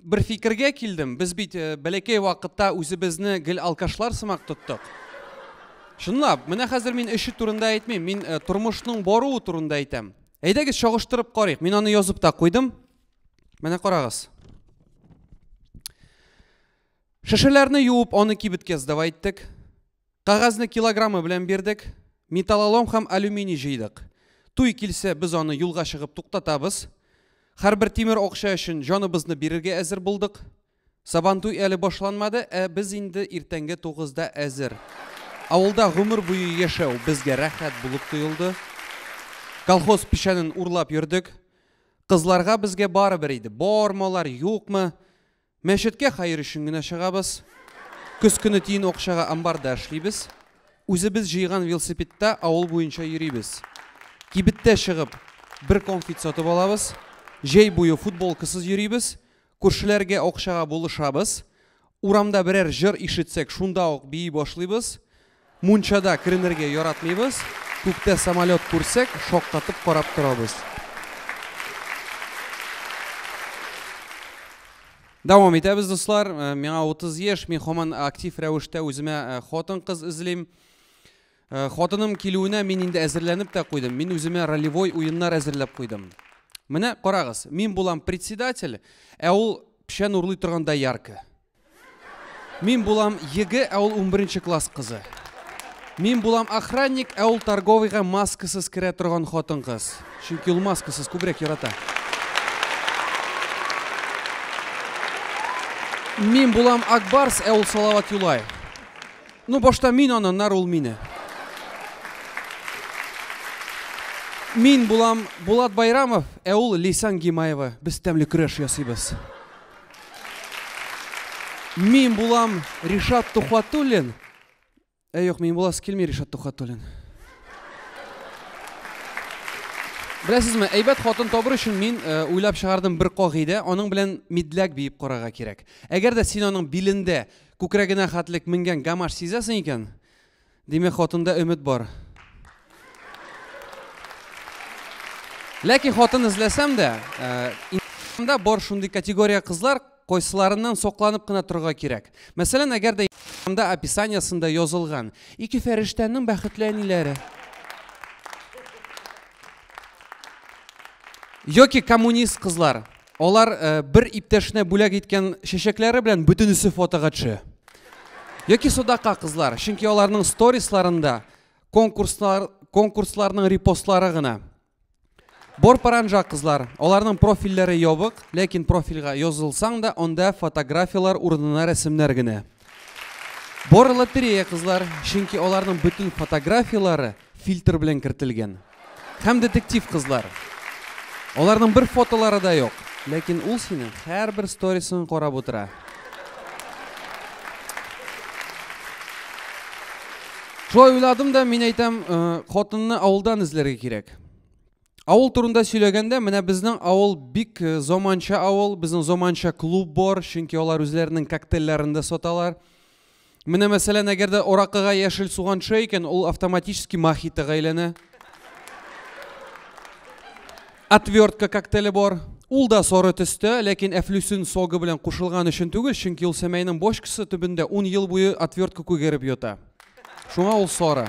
Бер фикергә килдем, без бит э, бәләкәй вакытта үзебезне гел алкашлар сымак тоттык. Чынлап, менә хәзер мин эше турында әйтмим, мин э, тормышның баруы турында әйтәм. Әйдәгез чагыштырып карыйк. Мин аны язып та куйдым. Менә карагыз. Шешеләрне юып, аны кибеткә сдавай иттек. Кәгазьне килограммы белән бирдек. Металлолом һәм алюминий җыйдык. Туй килсә, без аны юлга чыгып туктатабыз. Һәрбер тимер акча өчен җаныбызны бирергә әзер булдык. Сабантуй әле башланмады, ә без инде иртәнге тугызда әзер. Авылда гомер буе яшәү безгә рәхәт булып тоелды. Колхоз печәнен урлап йөрдек. Кызларга безгә барыбер иде, бармы алар, юкмы. Мәчеткә хәер өчен генә чыгабыз. Көз көне тиен акчага амбарда эшлибез. Үзебез җыйган велосипедта авыл буенча йөрибез. Кибеттә чыгып, бер конфит сатып алабыз. Җәй буе футболкасыз йөрибез. Күршеләргә акчага булышабыз. Урамда берәр җыр ишетсәк, шунда ук бии башлыйбыз. Мунчада керенергә яратмыйбыз, күктә самолет күрсәк, шаккатып карап торабыз. Дәвам итәбез, дуслар. Миңа 30 яшь, мин һаман актив рәвештә үземә хатын-кыз эзлим. Хатыным килүенә мин инде әзерләнеп тә куйдым, мин үземә ролевой уеннар әзерләп куйдым. Менә карагыз, мин булам председатель, ә ул печән урлый торган доярка. Мин булам егэ, ә ул унберенче класс кызы. Мин булам охранник, ә ул торговыйга маскасыз керә торган хатын-кыз. Чөнки ул маскасыз күбрәк ярата. Мин булам Акбарс, ә ул Салават Юлай. Ну, башта мин аны, аннары ул мине. Мин булам Булат Байрамов, ә ул Лейсан Гимаева. Без тәмле көрәш ясыйбыз. Мин булам Ришат Тухватуллин. Ә юк, мин буласы килми Ришат Тухватуллин. Беләсезме, әйбәт хатын табыр өчен мин э, уйлап чыгардым бер кагыйдә, аның белән мидләк биеп карарга кирәк. Әгәр дә син аның билендә күкрәгенә хәтлек менгән гамаш сизәсең икән, Димәк, хатында өмет бар. Ләкин хатын эзләсәм дә, инстаграмда э, бар шундый категория кызлар, кайсыларыннан сокланып кына торырга кирәк. Мәсәлән, әгәр дә инстаграмда описаниесында язылган ике фәрештәнең бәхетле әниләре. Йоки коммунист кызлар. Алар э, бер иптәшенә бүләк иткән чәчәкләре белән бөтенесе фотога төшә. Яки Содака кызлар, чөнки аларның сторисларында конкурслар, конкурсларның репостлары гына. Борпаранжа кызлар, аларның профильләре ябык, ләкин профильгә язылсаң да, анда фотографияләр урынына рәсемнәр генә. Бор лотерея кызлар, чөнки аларның бөтен фотографияләре Фильтр белән кертелгән. Һәм детектив кызлар. Аларның бер фотолары да юк. Ләкин ул синең һәрбер сторисың карап утыра. Шулай уйладым да, мин әйтәм, хатынны авылдан эзләргә кирәк. Авыл турында сөйләгәндә, менә безнең авыл бик э, заманча авыл, безнең заманча клуб бар, чөнки алар үзләренең коктейльләрен дә саталар. Менә мәсәлән, әгәр дә оракыга яшел суган төшә икән, ул автоматически мохитога әйләнә. Отвертка коктейле бар. Ул да сары төстә, ләкин әфлюсин согы белән кушылган өчен түгел, чөнки ул сәмәйнең бочкасы төбендә 10 ел буе отвертка күгәреп ята. Шуңа ул сары.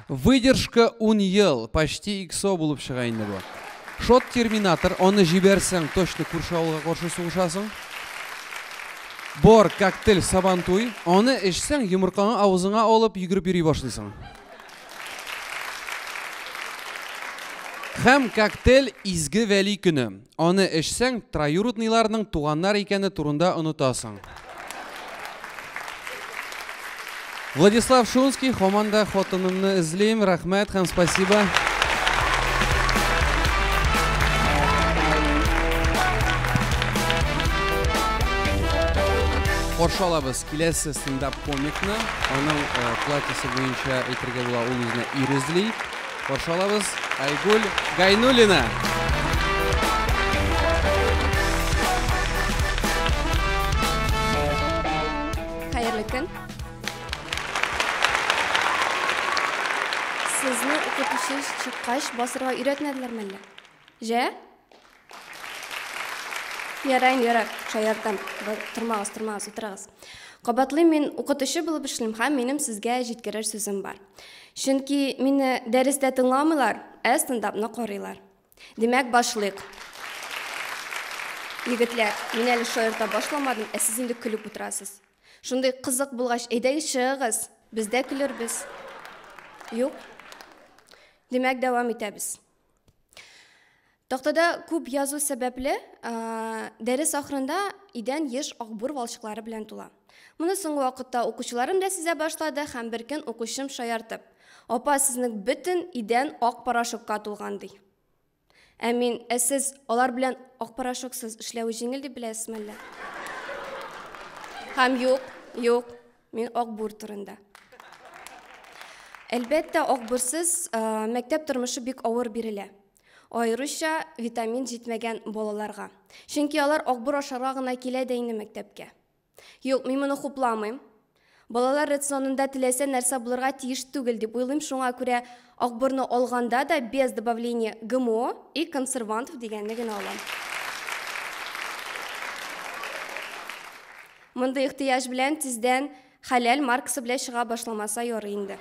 Выдержка 10 ел, почти иксо булып чыга инде бу. Шот терминатор, аны җибәрсәң, точно күрше авылга каршы сугышасың. Бор, коктейль, сабантуй, аны эчсәң, йомыркаңа авызыңа алып йөгереп йөри башлыйсың. Һәм коктейль изге вәли көне. Аны эчсәң, троюродныйларның туганнар икәне турында онытасың. Владислав Шунский, хаман да хатынымны эзлим, рәхмәт һәм спасибо. Каршы алабыз киләсе стендап комикны. Аның платьесы буенча әйтергә була, ул үзенә ир эзли. Каршы алабыз, Айгуль Гайнуллина! Хәерле көн! Сезне укытучы чыккач басырга өйрәтмәделәрме әллә? Җә? Ярар, инде ярар, шаяртам. Тормагыз, тормагыз, утырыгыз. Кабатлыйм, мин укытучы булып эшлим һәм минем сезгә җиткерер сүзем бар. Чөнки мине дәрестә тыңламыйлар, ә стендапны карыйлар. Димәк, башлыйк. Егетләр, мин әле шаярта башламадым, ә сез инде көлеп утырасыз. Шундый кызык булгач, әйдәгез чыгыгыз, без дә көлербез. Юк? Димәк, дәвам итәбез. Тактада күп язу сәбәпле, дәрес ахырында идән еш акбур валчыклары белән тула. Моны соңгы вакытта укучыларым да сизә башлады һәм бер көн укучым шаяртып, "Апа, сезнең бөтен идән ак порошокка тулган", ди. Ә мин, "Ә сез алар белән ак порошоксыз эшләве җиңел дип беләсезме әллә?" Һәм юк, юк, Мин акбур турында. Әлбәттә, акбурсыз мәктәп тормышы бик авыр бирелә. Аеруча витамин җитмәгән балаларга. Чөнки алар акбур ашарга гына килә дә инде мәктәпкә. Юк, мин моны хупламыйм. Балалар рационында теләсә нәрсә булырга тиеш түгел дип уйлыйм, шуңа күрә акбурны алганда да без добавление ГМО и консервантов дигәнне генә алам. Мондый ихтыяҗ белән тиздән хәләл маркасы белән чыга башламаса ярый инде.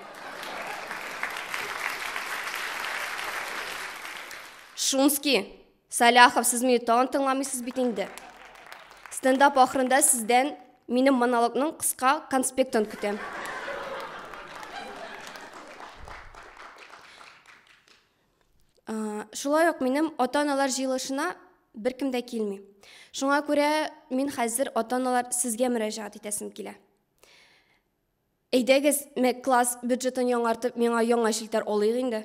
Шумский, Саляхов, сез мине тагын тыңламыйсыз бит инде. Стендап ахырында сездән минем монологның кыска конспектын көтәм. Шулай ук минем ата-аналар җыелышына беркем дә килми. Шуңа күрә мин хәзер ата-аналар сезгә мөрәҗәгать итәсем килә. Әйдәгез, класс бюджетын яңартып, миңа яңа челтәр алыйк инде.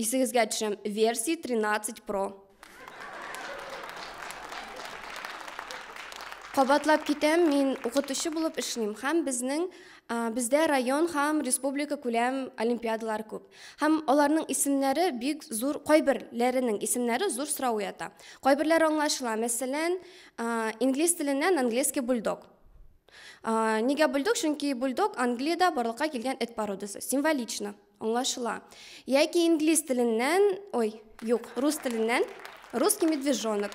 Исегезгә төшерәм, версия 13 Pro. Кабатлап китәм, мин укытучы булып эшлим һәм безнең бездә район һәм республика күләм олимпиадалар күп. Һәм аларның исемнәре бик зур, кайберләренең исемнәре зур сорау уята. Кайберләр аңлашыла, мәсәлән, инглиз теленнән английский бульдог. Нигә бульдог? Чөнки бульдог Англиядә барлыкка килгән эт породасы. Символично. Аңлашыла. Яки инглиз теленнән, ой, юк, рус теленнән, русский медвежонок.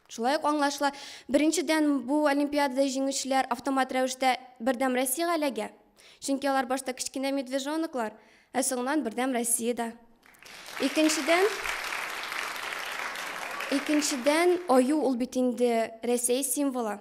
Шулай ук аңлашыла. Беренчедән, бу олимпиадада җиңүчеләр автомат рәвештә бердәм Россиягә эләгә. Чөнки алар башта кечкенә медвежоноклар, ә соңыннан бердәм Россиядә. Икенчедән, икенчедән, аю ул бит инде Рәсәй символы.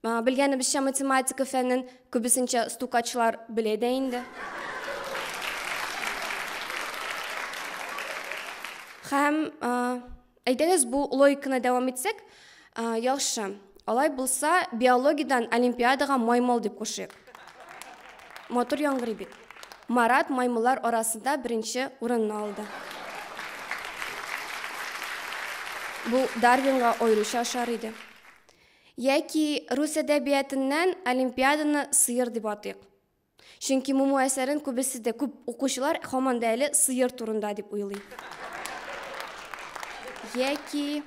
Белгәнебезчә, математика фәнен күбесенчә стукачлар белә дә инде. Һәм әйдәгез бу логиканы дәвам итсәк, яхшы. Алай булса, биологиядән олимпиадага маймыл дип кушыйк. Матур яңгырый бит. Марат маймыллар арасында беренче урынны алды. Бу Дарвинга аеруча ошар иде. Яки рус әдәбиятыннан Олимпиаданы сыер дип атыйк. Чөнки Муму әсәрен күбесе дә, күп укучылар һаман да әле сыер турында дип уйлый. Яки,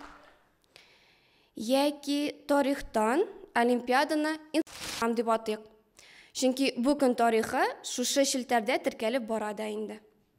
яки тарихтан Олимпиаданы инстаграм дип атыйк. Чөнки бу көн тарихы шушы челтәрдә теркәлеп бара да инде.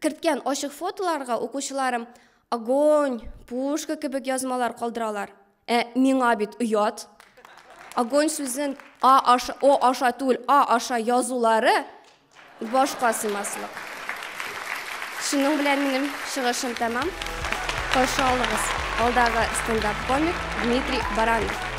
керткән ачык фотоларга укучыларым огонь, пушка кебек язмалар калдыралар. Ә миңа бит оят. Огонь сүзен а аша, о аша түгел, а аша язулары башка сыймаслык. Шуның белән минем чыгышым тәмам. Каршы алыгыз. Алдагы стендап комик Дмитрий Баранов.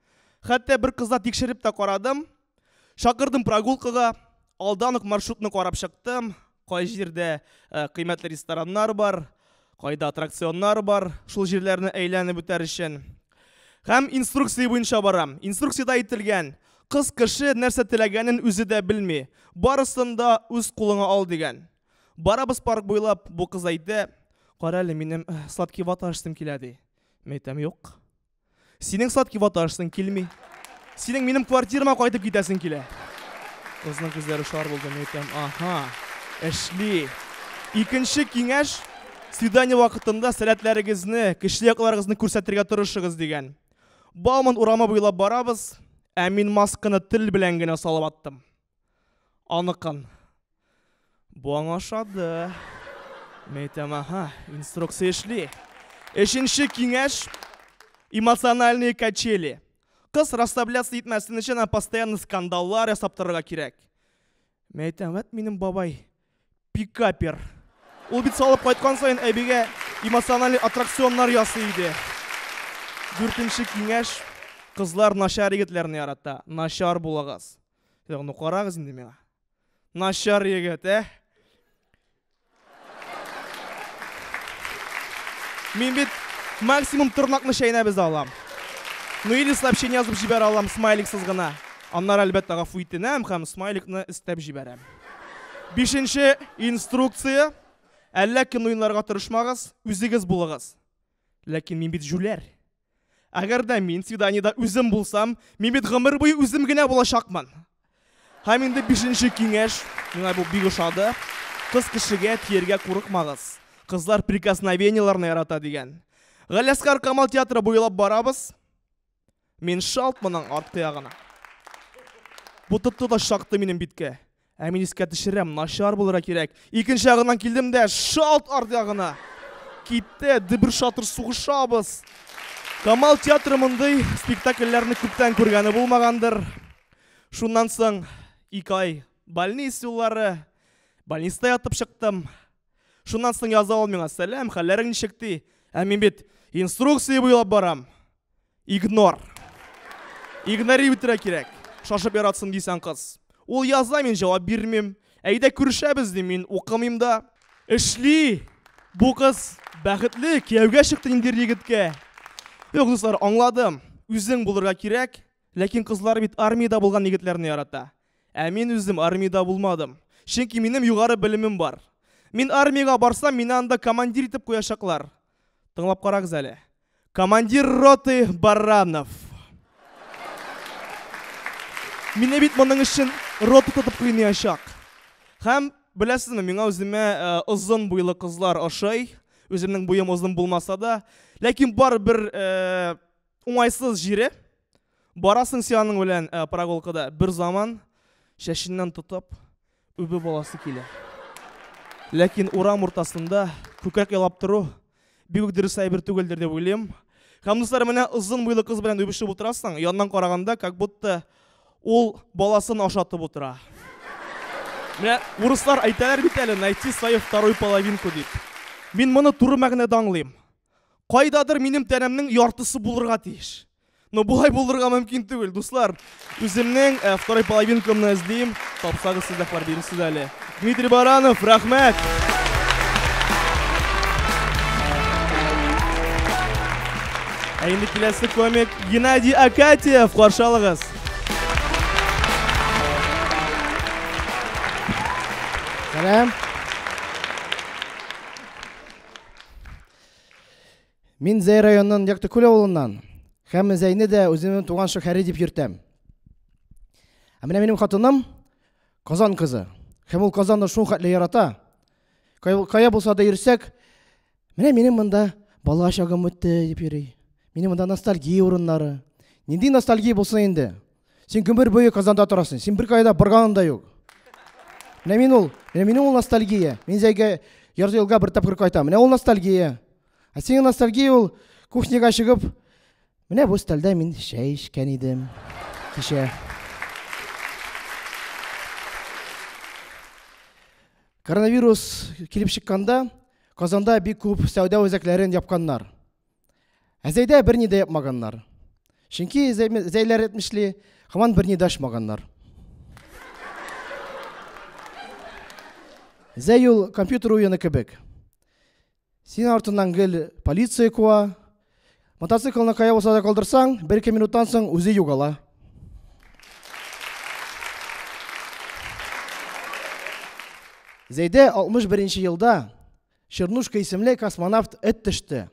Хәтта бер кызда тикшереп тә карадым. Шакырдым прогулкага, алдан ук маршрутны карап чыктым. Кай җирдә э, кыйммәтле рестораннар бар, кайда аттракционнар бар, шул җирләрне әйләнеп үтәр өчен. Һәм инструкция буенча барам. Инструкциядә әйтелгән, кыз кеше нәрсә теләгәнен үзе дә белми. Барысын да үз кулыңа ал дигән. Барабыз парк буйлап, бу кыз әйтә, «Кара әле, минем э, сладкий вата ашсым килә», ди. Мәйтәм, юк. Синең сладкий ваташсың килми. Синең минем квартирама кайтып китәсең килә. Кызның күзләре шар булды, нәйтәм. Аха. Эшли. Икенче киңәш свидание вакытында сәләтләрегезне, кешеле якларыгызны күрсәтергә тырышыгыз дигән. Бауман урамы буйлап барабыз, ә мин масканы тел белән генә салып аттым. Аныкын. Бу аңа ошады. Мин әйтәм, ага, инструкция эшли. Өченче киңәш эмоциональные качели. Кыз расслабляться итмәсен өчен она постоянно скандаллар ясап торырга кирәк. Мин әйтәм, вот минем бабай пикапер. Ул бит салып кайткан саен әбигә эмоциональный аттракционнар ясый иде. Дүртенче киңәш кызлар начар егетләрне ярата. Начар булыгыз. Ну карагыз инде миңа. Начар егет, ә? Мин бит максимум тырнакны чәйнәп өзә алам. Ну или сообщение язып җибәрә алам смайликсыз гына. Аннары әлбәттә гафу итенәм һәм смайликны өстәп җибәрәм. Бишенче инструкция. Әллә кем уенларга тырышмагыз, үзегез булыгыз. Ләкин мин бит җүләр. Әгәр дә мин свиданиедә үзем булсам, мин бит гомер буе үзем генә булачакмын. Һәм инде бишенче киңәш, миңа бу бик ошады. Кыз кешегә тиергә курыкмагыз. Кызлар прикосновениеләрне ярата дигән. Галиәсгар Камал театры буйлап барабыз. Мин шалт моның арткы ягына. Бу тотты да шакты минем биткә. Ә мин искә төшерәм, начар булырга кирәк. Икенче ягыннан килдем дә шалт арт ягына. Китте, дебер шатыр сугышабыз. Камал театры мондый спектакльләрне күптән күргәне булмагандыр. Шуннан соң ике ай больниц юллары, больниста ятып чыктым. Шуннан соң яза ул миңа, сәләм, хәлләрең ничек ди? Ә мин бит инструкция буйлап барам. Игнор. Игнори үтерә кирәк. Шашып яратсын дисәң кыз. Ул яза мин җавап бирмим. Әйдә күрешәбез дим мин укымыйм да. Эшли. Бу кыз бәхетле, кияүгә чыкты инде егеткә. Юк, дуслар, аңладым. Үзең булырга кирәк, ләкин кызлар бит армиядә булган егетләрне ярата. Ә мин үзем армиядә булмадым. Чөнки минем югары белемем бар. Мин армиягә барсам, мине анда командир итеп куячаклар. Тыңлап карагыз әле. Командир роты Баранов. Мине бит моның өчен рота тотып кыйнаячак. Һәм беләсезме, миңа үземә озын буйлы кызлар ошый. Үземнең буем озын булмаса да, ләкин бар бер Уңайсыз җире. Барасың син аның белән э, прогулкада. Бер заман шәшеннән тотып үбеп аласы килә. Ләкин урам уртасында күкрәк ялап тору бик үк дөрес әйбер түгелдер дип уйлыйм. Һәм дуслар, менә озын буйлы кыз белән үбешеп утырасың, яннан караганда, как будто ул баласын ашатып утыра. Менә урыслар әйтәләр бит әле, найти свою вторую половинку дип. Мин моны туры мәгънәдә аңлыйм. Кайдадыр минем тәнемнең яртысы булырга тиеш. Но болай булырга мөмкин түгел, дуслар. Үземнең э, второй половинкамны эзлим. Тапсагыз сездә бар бирсез әле. Дмитрий Баранов, рәхмәт. Ә инде киләсе комик Геннадий Акатьев каршы алыгыз. Сәлам. Мин Зәй районының Яктыкүл авылыннан һәм Зәйне дә үземнең туган шәһәре дип йөртәм. Ә менә минем хатыным Казан кызы. Һәм ул Казанны шул хәтле ярата. Кая булса да йөрсәк, менә минем монда бала чагым үтте дип йөри. Минем монда ностальгия урыннары. Нинди ностальгия булсын инде? Син гомер буе Казанда торасың. Син беркайда барганың да юк. Менә мин ул, менә минем ул ностальгия. Мин зәйгә ярты елга бер тапкыр кайтам. Менә ул ностальгия. Ә синең ностальгия ул кухняга чыгып, менә бу столда мин чәй эчкән идем. Кичә. Коронавирус килеп чыкканда Казанда бик күп сәүдә үзәкләрен япканнар. Ә Зәйдә берни дә япмаганнар. Чөнки Зәйләр әйтмешли, хаман берни дә ачмаганнар. Зәй ул компьютер уены кебек. Син артыннан гел полиция куа. Мотоциклны кая булса да калдырсаң, бер ике минуттан соң үзе югала. Зәйдә 61 елда Чернушка исемле космонавт эт төште.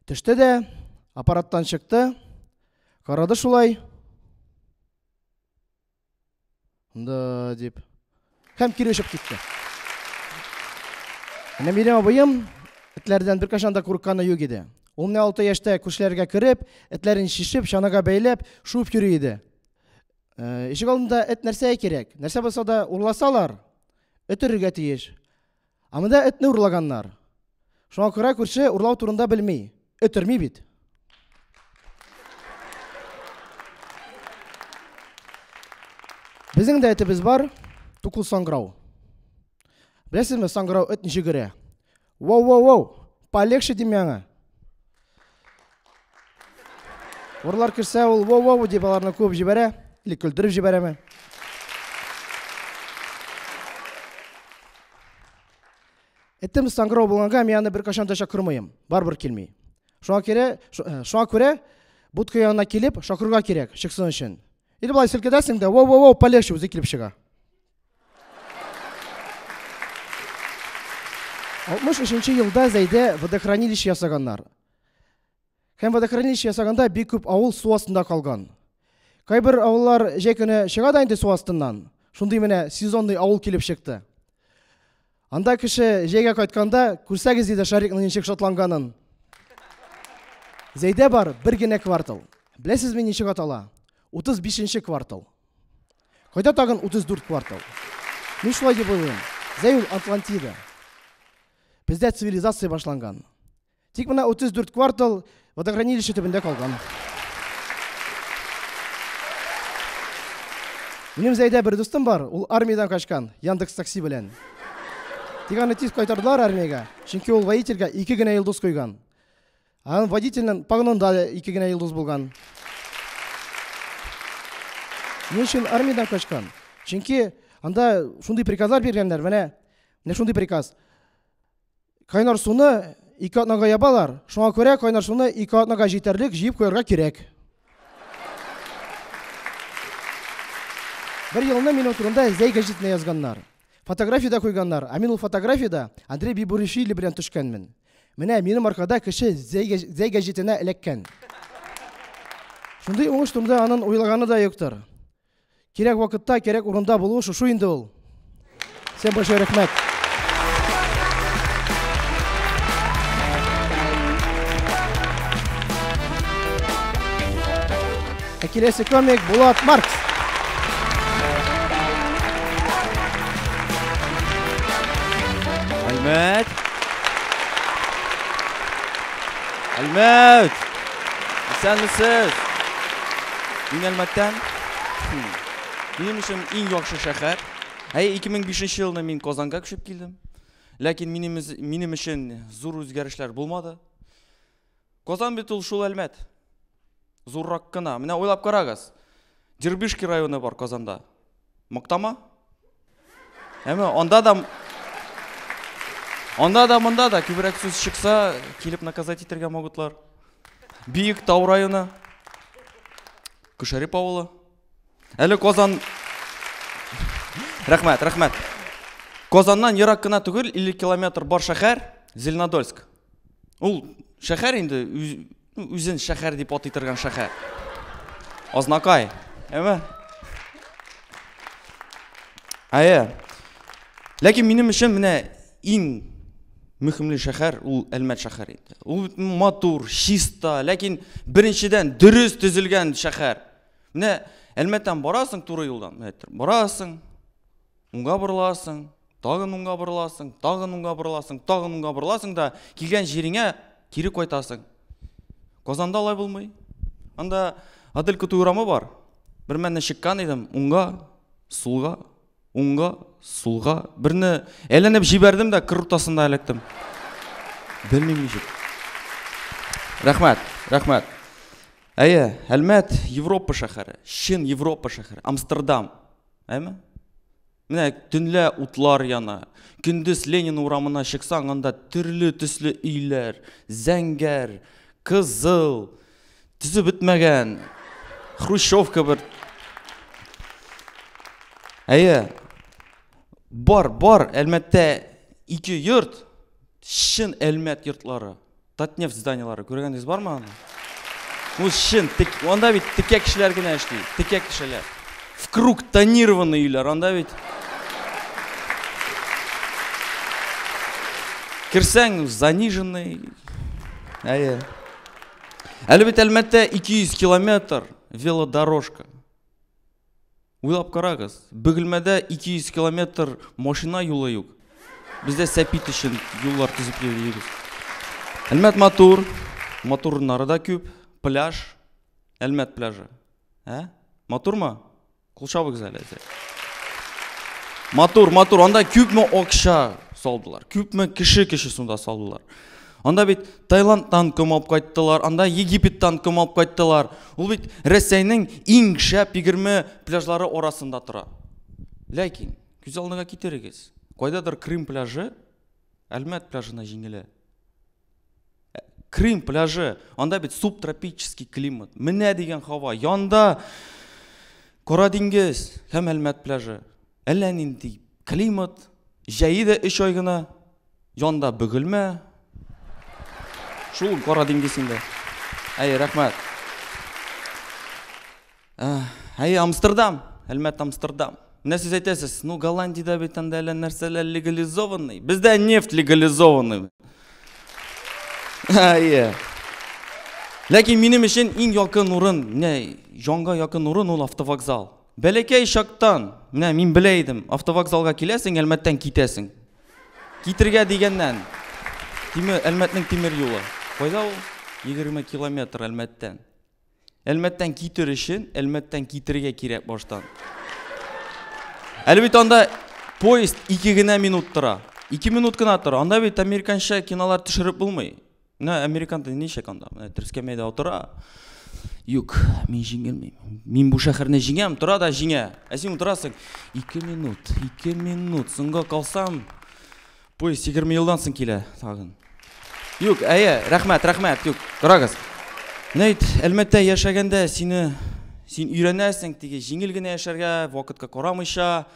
Төште дә аппараттан чыкты. Карады шулай. Да, дип. Һәм кире очып китте. Менә минем абыем этләрдән беркашан да курыкканы юк иде. Ул менә 6 яшьтә күршеләргә кереп, этләрен шишеп, чанага бәйләп, шуып йөри иде. Ишек алдында эт нәрсә кирәк? Нәрсә булса да урласалар, эт өрергә тиеш. Ә монда этне урлаганнар. Шуңа күрә күрше урлау турында белми. Эт өрми бит. Безнең дә этебез бар, тукыл саңгырау. Беләсезме, саңгырау эт ничек өрә? Вау-вау-вау, полегче дим яңа. Урлар керсә, ул воу-воу дип аларны куып җибәрә, или көлдереп җибәрәме? Этем саңгырау булганга мин аны беркайчан да чакырмыйм. Барбер килми. Шуңа керә, э, шуңа күрә будка янына килеп, шакырга кирәк, чыксын өчен. Или болай селкедәсең дә, воу-воу-воу, полегче үзе килеп чыга. Алтмыш өченче елда Зәйдә водохранилище ясаганнар. Һәм водохранилище ясаганда бик күп авыл су астында калган. Кайбер авыллар җәй көне чыга да инде су астыннан. Шундый менә сезонный авыл килеп чыкты. Анда кеше җәйгә кайтканда күрсәгез иде Шарикның ничек шатланганын. Зәйдә бар бер генә квартал. Беләсезме ничек атала? 35 нче квартал. Кайда тагын 34 квартал? Мин шулай дип уйлыйм. Зәюл, Атлантида. Бездә цивилизация башланган. Тик менә 34 квартал водохранилище төбендә калган. Минем Зәйдә бер дустым бар, ул армиядән качкан, Яндекс такси белән. Тик аны тиз кайтардылар армиягә, чөнки ул водительгә ике генә йолдыз куйган. Анын водительнын погонунда да эки генә йылдыз булган. Эмне үчүн армиядан качкан? Чөнки анда шундый приказлар биргәннәр, менә менә шундый приказ. Кайнар суны ике атнага ябалар, шуңа күрә кайнар суны ике атнага җитәрлек җыеп куярга кирәк. Бер елны минем турында Зәй газетына язганнар. Фотография дә куйганнар, ә мин ул фотографиядә Андрей Бибуришвили белән төшкәнмен. Менә минем аркада кеше зәй гәҗитенә эләккән. Шундый уңыш турында анын уйлаганы да юктыр. Кирәк вакытта, кирәк урында булу шушу инде ул. Всем большой рәхмәт. Ә киләсе комик Булат Маркс. Әлмәт. Әлмәт. Исәнмесез. Мин Әлмәттән. Минем өчен иң яхшы шәһәр. Әй 2005 елны мин Казанга күчеп килдем. Ләкин минем минем өчен зур үзгәрешләр булмады. Казан бит ул шул Әлмәт. Зуррак кына. Менә уйлап карагыз. Дербышки районы бар Казанда. Мактама? Әмма анда да Анда да монда да күбрәк сүз чыкса, килеп наказать итәргә могутлар. Биек Тау районы. Күшәреп авылы. Әле Казан Рәхмәт, рәхмәт. Казаннан ерак кына түгел, 50 километр бар шәһәр Зеленодольск. Ул шәхәр инде, үзен шәхәр дип атый торган шәхәр. Азнакай, әйме? Әйе. Ләкин минем өчен менә иң мөхимле шәхәр ул Әлмәт шәхәре инде. Ул матур, чиста, ләкин беренчедән дөрес төзелгән шәхәр. Менә Әлмәттән барасың туры юлдан, барасың, Уңга борыласың, тагын уңга борыласың, тагын уңга борыласың, тагын уңга борыласың да килгән җиреңә кире кайтасың. Казанда алай булмый. Анда Адель Кутуй урамы бар. Бер мәнне чыккан идем, уңга, сулга, уңга, сулга. Берне әйләнеп җибәрдем дә кыр уртасында эләктем. Белмим ничек. Рәхмәт, рәхмәт. Әйе, Әлмәт Европа шәһәре, чын Европа шәһәре, Амстердам. Әме? Менә төнлә утлар яна. Көндез Ленин урамына чыксаң, анда төрле төсле өйләр, зәңгәр, кызыл, төзеп бетмәгән, хрущевка бер. Әйе, бар, бар, әлмәттә ике йорт, чын әлмәт йортлары. татнефть зданиелары күргәнегез бармы аны бу чын анда бит текә кешеләр генә эшли текә кешеләр в круг тонированный өйләр анда бит керсәң заниженный әйе әле бит әлмәттә ике йөз километр велодорожка Уйлап карагыз, Бөгелмәдә 200 километр машина юлы юк. Без дә сәпит өчен юллар төзеп йөрибез. Әлмәт матур, матур урыннары да күп, пляж, Әлмәт пляжы. Ә? Матурмы? Кул чабыгыз әле. Матур, матур. Анда күпме акча салдылар? Күпме кеше кеше сунда салдылар? Анда бит Таиландтан ком алып кайттылар, анда Египеттан ком алып кайттылар. Ул бит Рәсәйнең иң шәп 20 пляжлары арасында тора. Ләкин күз алдына китерегез. Кайдадыр Крым пляжы Әлмәт пляжына җиңелә. Ә, Крым пляжы, анда бит субтропический климат. Менә дигән һава. Янда Кара диңгез һәм Әлмәт пляжы. Әллә нинди климат. Җәе дә 3 ай гына, Җанда бөгелмә. Шул кара диңгезендә. Әй, рәхмәт. Әй, Амстердам, Әлмәт Амстердам. Менә сез әйтәсез, ну Голландиядә бит анда әллә нәрсәләр легализованный. Бездә нефть легализованный. Әйе. Ләкин минем өчен иң якын урын, менә җанга якын урын ул автовокзал. Бәләкәй чактан, менә мин белә идем, автовокзалга киләсең, Әлмәттән китәсең. Китергә дигәннән, тимер, Әлмәтнең тимер юлы. Кайда ул? 20 километр Әлмәттән. Әлмәттән китер өчен, Әлмәттән китергә кирәк баштан. Әле бит анда поезд ике генә минут тора. Ике минут кына тора. Анда бит американча кинолар төшереп булмый. Менә американ теле ничек анда? Менә трескәмәйдә утыра. Юк, мин җиңелмим. Мин бу шәһәрне җиңәм, тора да җиңә. Ә син утырасың. 2 минут, 2 минут. Соңга калсам, поезд 20 елдан соң килә тагын. Юк, әйе, рәхмәт, рәхмәт. Юк, торагыз. Менә бит Әлмәттә яшәгәндә сине син өйрәнәсең, теге җиңел генә яшәргә, вакытка карамыйча.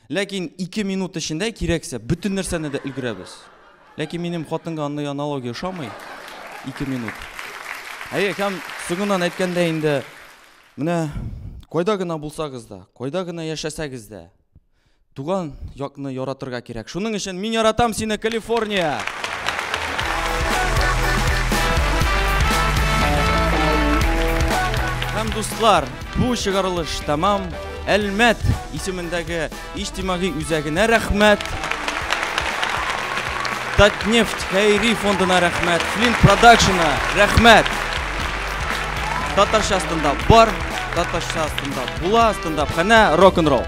Ләкин ике минут эчендә кирәксә бөтен нәрсәне дә өлгерәбез. Ләкин минем хатынга андый аналогия ошамый. Ике минут. Әйе, һәм соңыннан әйткәндә инде менә кайда гына булсагыз да, кайда гына яшәсәгез дә, туган якны яратырга кирәк. Шуның өчен мин яратам сине, Калифорния! Һәм, дуслар, бу чыгарылыш тәмам. Әлмәт исемендәге иҗтимагый үзәгенә рәхмәт. Татнефть хәйри фондына рәхмәт, Флин продакшена рәхмәт. Татарча астында бар, татарча астында була, астында хәнә рок-н-ролл.